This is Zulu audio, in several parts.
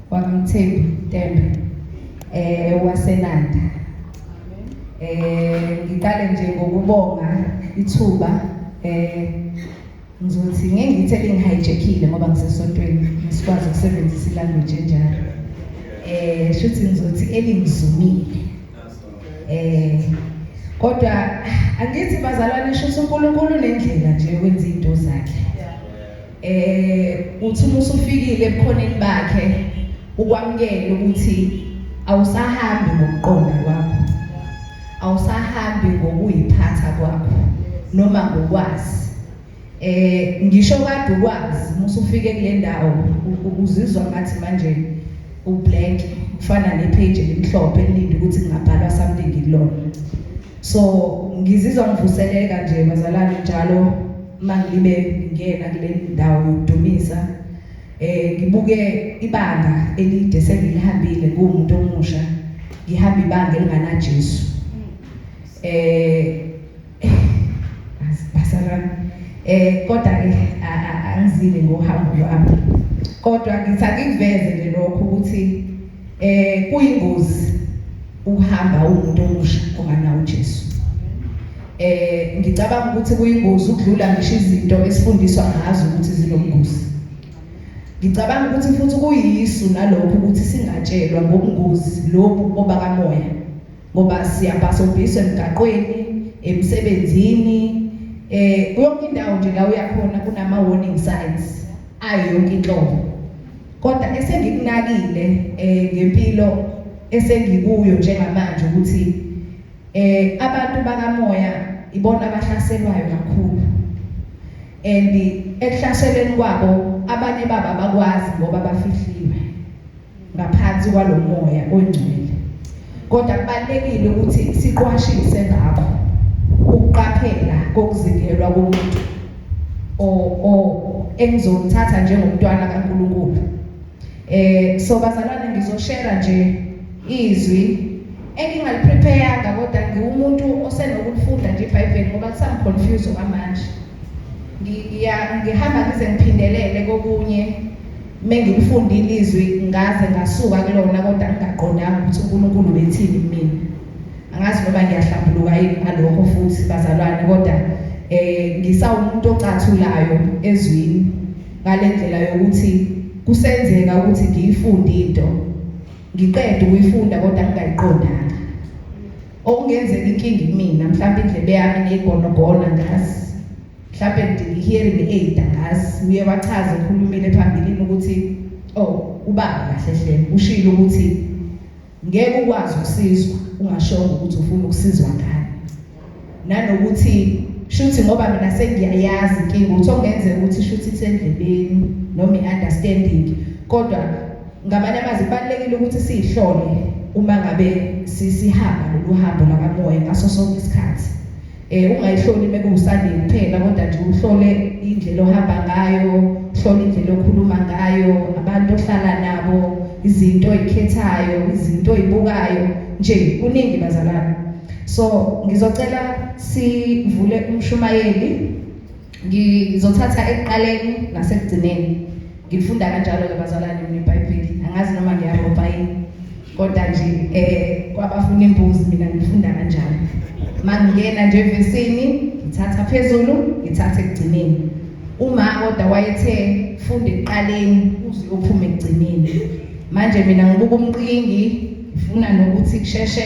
wakamthembi tembe eh wasenanda eh ngiqale nje ngokubonga ithuba eh ngizothi ngeke ngithe lingihijackile ngoba ngisesontweni ngisikwazi ukusebenzisa ilanguage enjalo eh shuthi ngizothi elingizumile eh kodwa angithi bazalwane shuthi uNkulunkulu nendlela nje wenza into zakhe eh uthi uma usufikile ebukhoneni bakhe ukwamukela ukuthi awusahambi ngokuqonda kwakho awusahambi ngokuyiphatha kwakho noma ngokwazi eh ngisho kade ukwazi musufike kule ndawo uzizwa ngathi manje ublank kufana nepage elimhlophe elinde ukuthi kungabhalwa something kulona so ngizizwa ngivuseleka nje bazalwane njalo uma ngibe ngingena kule ndawo yokudumisa eh ngibuke ibanga elide sengilihambile kuwumuntu omusha ngihamba ibanga elinganaJesu eh basarana eh kodwa ke angizile ngohambo lwami kodwa ngithi angiveze nje lokho ukuthi Eh kuyingozi ukuhamba umuntu omusha ongana uJesu. Eh ngicabanga ukuthi kuyingozi ukudlula ngisho izinto esifundiswa ngazo ukuthi zinobungozi. Ngicabanga ukuthi futhi kuyisu nalokho ukuthi singatshelwa ngobungozi lobu obakamoya ngoba siyabhasobhiswa emgaqweni emsebenzini eh yonke indawo nje la uyakhona kunama warning signs ayo yonke inhlobo Kodwa esengikunakile eh ngempilo esengikuyo njengamanje ukuthi eh abantu bakamoya ibona abahlaselwayo kakhulu and ekuhlaseleni kwabo abanye baba bakwazi ngoba bafihliwe ngaphansi kwalomoya ongcwele kodwa kubalekile ukuthi siqwashise ngakho ukuqaphela kokuzikelwa komuntu o o engizomthatha njengomntwana kaNkulunkulu eh so bazalwane ngizoshare nje izwi engingaliprepayanga kodwa ngiwumuntu osenokulifunda nje iBhayibheli ngoba kusangiconfuse okwamanje ngiya ngihamba ngize ngiphindelele kokunye mengikufundile izwi ngaze ngasuka kulona kodwa ngingaqondanga ukuthi uNkulunkulu ubethini kumina angazi noma ngiyahlambuluka yini ngalokho futhi bazalwane kodwa eh ngisawumuntu ocathulayo ezwini ngalendlela yokuthi kusenzeka ukuthi ngiyifunde into ngiqede ukuyifunda kodwa ngingayiqondanga okungenzeka inkinga kumina mhlawumbe indlebe yami neyigonogona ngazi mhlawumbe ngidinga i-hearing aid angazi uye wachaza ekhulumile phambilini ukuthi oh ubaba kahle hle ushilo ukuthi Ngeke ukwazi ukusizwa ungashongo ukuthi ufuna ukusizwa ngani. Nanokuthi shuthi ngoba mina sengiyayazi inkinga ukuthi okungenzeka ukuthi shuthi isendleleni noma i-understanding kodwa ngamanye amazwi kubalulekile ukuthi siyihlole uma ngabe sisihamba lolu hambo lakamoya ngaso sonke isikhathi. Eh ungayihloli mekuwusandini kuphela kodwa nje uhlole indlela ohamba ngayo, uhlole indlela okhuluma ngayo, abantu ohlala nabo, izinto oyikhethayo, izinto oyibukayo nje kuningi bazalwane. So ngizocela sivule umshumayeli ngizothatha ekuqaleni nasekugcineni ngifunda kanjalo-ke bazalwane mina ibhayibheli angazi noma ngiyabopha yini kodwa nje um kwabafuna imbuzi mina ngifunda kanjalo ma ngingena nje evesini ngithatha phezulu ngithatha ekugcineni uma kodwa wayethe funda ekuqaleni uze uphume ekugcineni manje mina ngibuka umqingi ngifuna nokuthi kusheshe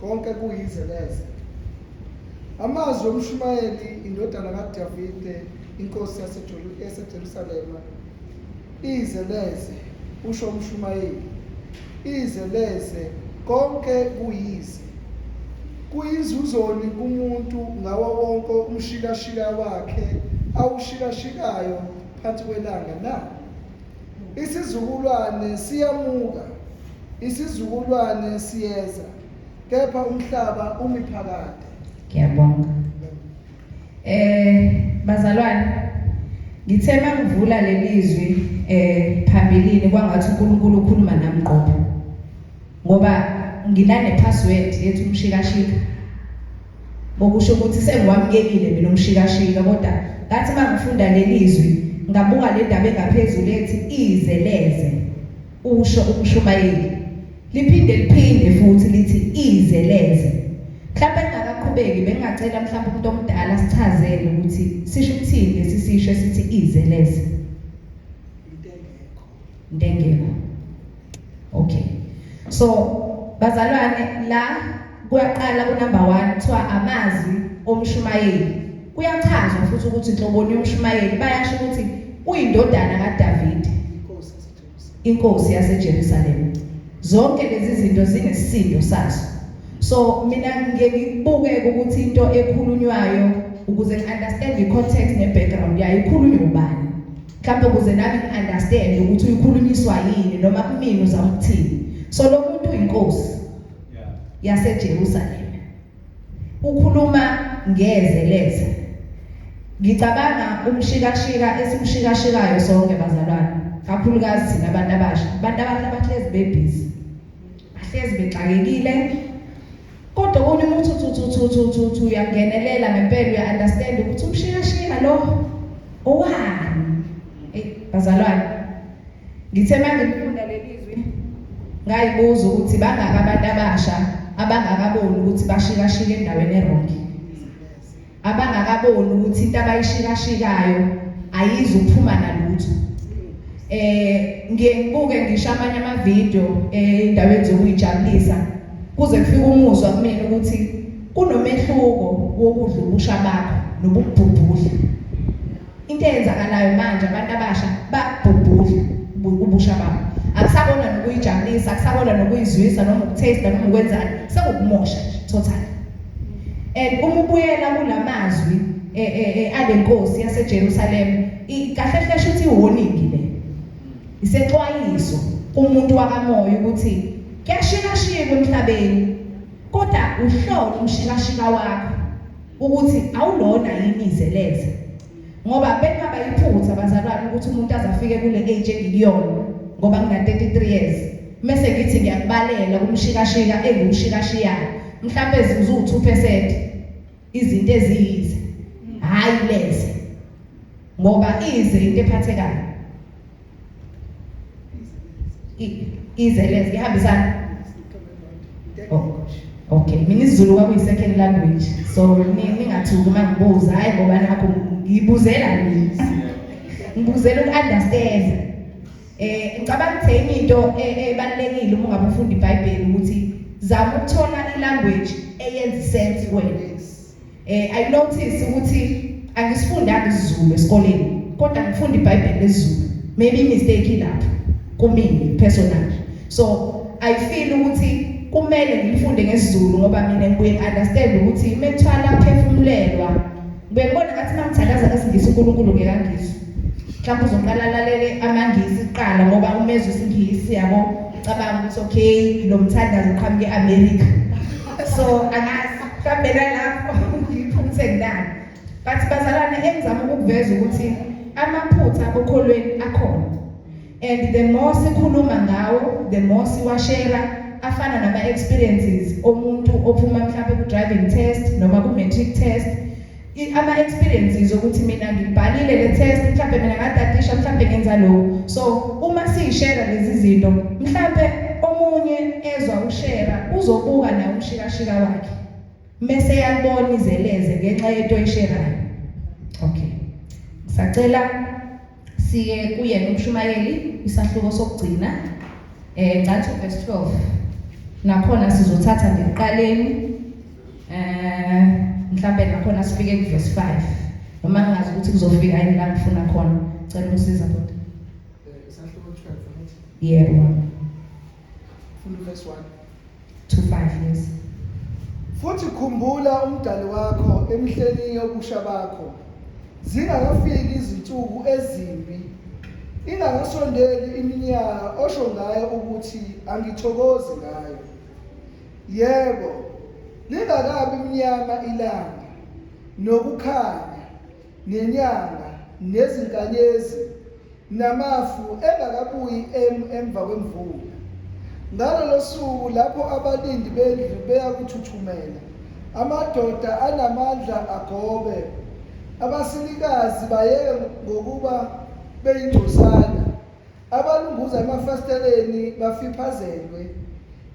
konke kuyize neze amazwi omshumayeli indodana kadavide inkosi yasejerusalema ize neze usho umshumayeli ize neze konke kuyize kuyinzuzoni kumuntu ngawo wonke umshilashila wakhe awushilashikayo phansi kwelanga na Isizukulwane siyamuka, isizukulwane siyeza, kepha umhlaba umi phakade. Ngiyabonga. Eh bazalwane ngithe mangivula lelizwi eh phambilini kwangathi uNkulunkulu ukhuluma nami qobo. Ngoba nginane password yethu umshikashika. Ngokusho ukuthi sengiwamukelile mina umshikashika kodwa ngathi uma ngifunda leli zwi ngabuka le ndaba engaphezulu ethi izeleze usho umshumayeli. Liphinde liphinde futhi lithi izeleze. Mhlawumbe engakaqhubeki bengingacela mhlawumbe umuntu omdala sichazele ukuthi sisho ukuthini lesi sisho esithi izeleze. Ndengela. Okay. So bazalwane la kuyaqala ku number 1 kuthiwa amazwi omshumayeli. Kuyachazwa futhi ukuthi inhloboni yomshumayeli bayasho ukuthi uyindodana kaDavid. Inkosi yaseJerusalem. Inkosi yaseJerusalem. Zonke lezi zinto zinesisindo sazo. So mina ngike ngibuke ukuthi into ekhulunywayo ukuze ngi understand i context ne background yayo ikhulunywa ubani. mhlawumbe ukuze nami ngi-understand ukuthi uyikhulunyiswa yini noma kumina uzama ukuthini so lo muntu uyinkosi yasejerusalema ukhuluma ngeze leze ngicabanga umshikashika esimshikashikayo sonke bazalwane kakhulukazi thina abantu abasha abantu abasha bahlezi bebhizi bahlezi bexakekile Kodwa konye umuntu uthuthuthuthuthuthu uyangenelela ngempela uya-understand ukuthi umshikashika lo owani. Eyi bazalwane, ngithe uma ngifunda leli zwi ngayibuza ukuthi bangaka abantu abasha abangakaboni ukuthi bashikashika endaweni erongi. abangakaboni ukuthi into abayishikashikayo ayizi ukuphuma nalutho eh ngiye ngibuke ngisho amanye amavideo endaweni eh, zokuyijabulisa kuze kufike umuzwa kumina ukuthi kunomehluko wokudla ubusha bakho nobubhubhudla Into eyenzakalayo manje abantu abasha babhubhudla ubusha babo. Akusakona nokuyijabulisa, akusakona nokuyizwisa noma ukuthaste noma ukwenzani, sekukumosha nje totally. And uma ubuyela kulamazwi eh, eh, eh, alenkosi yaseJerusalem, kahle kahle shuthi iwarning le. Isexwayiso kumuntu wakamoya ukuthi kuyashikashika emhlabeni kodwa uhlolo umshikashika wakho ukuthi awulona yini izeleze ngoba bekungaba yiphutha bazalwane ukuthi umuntu azafike kule age engikuyona ngoba ngina 33 years mese ngithi ngiyakubalela kumshikashika engumshikashiyayo mhlawumbe zizu 2% izinto eziyize hayi leze ngoba ize into ephathekayo izelez ngihambisana oh, okay mina isizulu kwakuyi-second language so ningathuki uma ngibuza hhayi ngoba nakho ngiyibuzela mina ngibuzela uku-understand eh ngicabanga ukuthi enye into e-, ebalulekile uma ungabe ufunda ibhayibheli ukuthi zama ukuthola ilanguage eyenza isense kuwena Eh I notice ukuthi angisifundanga isiZulu esikoleni kodwa ngifunda iBhayibheli lesiZulu. Maybe mistake ilapho kumina personally. So I feel ukuthi kumele ngifunde ngesiZulu ngoba mina ngibuye understand ukuthi methwala phefumulelwa bengibona ngathi mangithandaza ngesingisi uNkulunkulu ngekangisi mhlawumbe uzoqala alalele amangisi kuqala ngoba umezwe isingisi yabo cabanga ukuthi okay lo mthandazo uqhamuke e-America so angazi mhlawumbe nalapho ngiphumthe ngidani but bazalwane engizama ukukuveza ukuthi amaphutha okholweni akhona and the more sikhuluma ngawo the more siwashera afana nama-experiences omuntu ophuma mhlawumbe ku-driving test noma ku-matric test ama experiences ukuthi mina ngibhalile le test mhlawumbe mina ngadadisha mhlawumbe ngenza lokho so uma siyishare lezi zinto mhlawumbe omunye ezwa ushare uzobuka na umshikashika wakhe mese yalibona izeleze ngenxa yento oyisherayo okay sacela Siye kuye nomshumayeli isahluko sokugcina eh Gcathu verse 12. Nakhona sizothatha ngekuqaleni eh mhlawumbe nakhona sifike ku verse 5. Noma ngazi ukuthi kuzofika yini la ngifuna khona. Cela usiza kodwa. Eh isahluko 12 right? Yebo. Yeah, Funda verse 1 to 5 yes. Futhi khumbula umdali wakho emhleni yobusha bakho zingakafiki izinsuku ezimbi ingakasondeli iminyaka osho ngayo ukuthi angithokozi ngayo yebo lingakabi mnyama ilanga nokukhanya nenyanga nezinkanyezi namafu engakabuyi em emva kwemvula ngalolo suku lapho abalindi bendlu beyakuthuthumela amadoda anamandla agobe abasilikazi bayeke ngokuba beyingcosana abalunguza emafasiteleni bafiphazelwe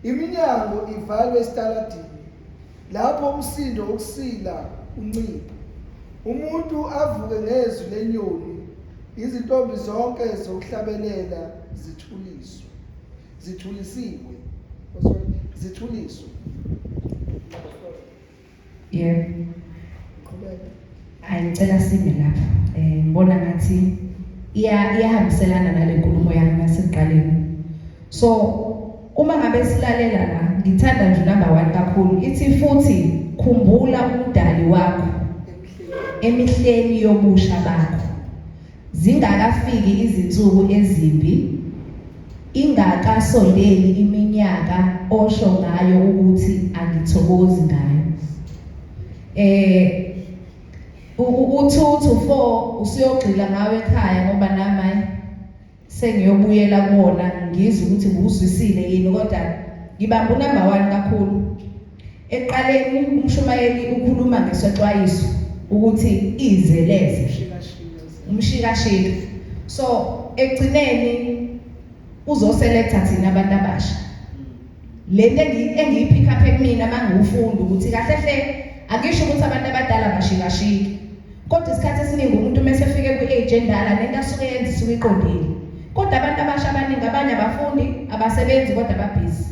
iminyango ivalwe esitaladini lapho umsindo wokusila uncipha umuntu avuke ngezwi lenyoni izintombi zonke zokuhlabelela zithuliswe zithulisiwe zithuliswe yebo qhubeka Hayi ngicela sime lapha. Eh ngibona ngathi iya iyahambiselana nale nkulumo yami nasekuqaleni. So uma ngabe silalela la ngithanda nje number 1 kakhulu ithi futhi khumbula umdali wakho emihleni yobusha bakho. Zingakafiki izinsuku ezimbi, ingakasondeli iminyaka osho ngayo ukuthi angithokozi ngayo. Eh uthuthu fo usuyogxila ngawe ekhaya ngoba nami sengiyobuyela kuwona ngizwe ukuthi nguzwisile yini kodwa ngibamba unumber 1 kakhulu Ekuqaleni umshumayeli ukhuluma ngesexwayiso ukuthi izeleze umshikashika so ekugcineni uzoselecta thina abantu abasha le nto engiyiphikha apha kumina uma ngiwufunda ukuthi kahle hle angisho ukuthi abantu abadala bashikashiki kodwa isikhathi esiningi umuntu uma esefike kwi-age endala nento asuke yenza isuke iqondile kodwa abantu abasha abaningi abanye abafundi abasebenzi kodwa babhizi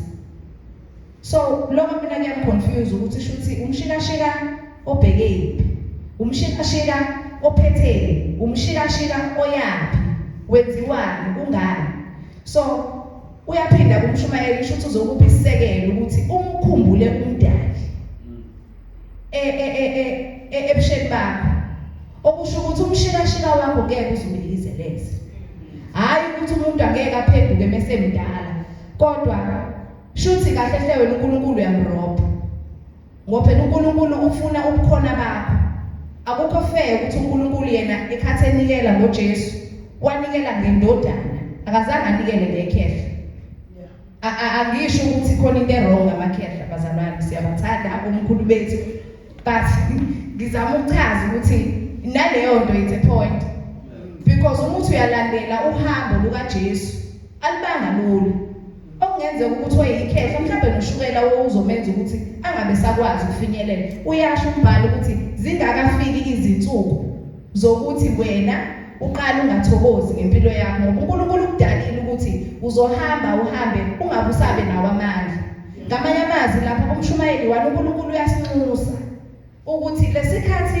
So lokho mina kuyangiconfuse ukuthi shuthi umshikashika obheke yiphi? Umshikashika ophetheni? Umshikashika oyaphi? Wenziwani? Kungani? So uyaphinda kumshumayeli usho ukuthi uzokupha isisekelo ukuthi umkhumbule umdali e, e, e, ebusheni bakho okusho ukuthi umshikashika wakho ngeke uzubeyizeleze hhayi ukuthi umuntu angeke aphenduke mesemdala kodwa Shuthi kahle hle wena uNkulunkulu uyamrobha. Ngoba phela uNkulunkulu ufuna ubukhona bakho. Akukho fair ukuthi uNkulunkulu yena ekhathi enikela ngoJesu, wanikela ngendodana. Akazange anikele ngekhehla. Angisho ukuthi khona into erong ngamakhehla bazalwane, siyabathanda omkhulu bethu. But ngizama ukuchaza ukuthi naleyo nto it's a point. Because uma uthi uyalandela uhambo lukaJesu, alibanga lula. okungenzeka ukuthi weyikhehla mhlawumbe noshukela wowuzomenza ukuthi angabe sakwazi ukufinyelela uyasho umbhalo ukuthi zingakafiki izinsuku zokuthi wena uqale ungathokozi ngempilo yakho ngoba uNkulunkulu ukudalile ukuthi uzohamba uhambe ungabe usabe nawo amandla ngamanye amazwi lapha umshumayeli walo uNkulunkulu uyasinxusa ukuthi lesikhathi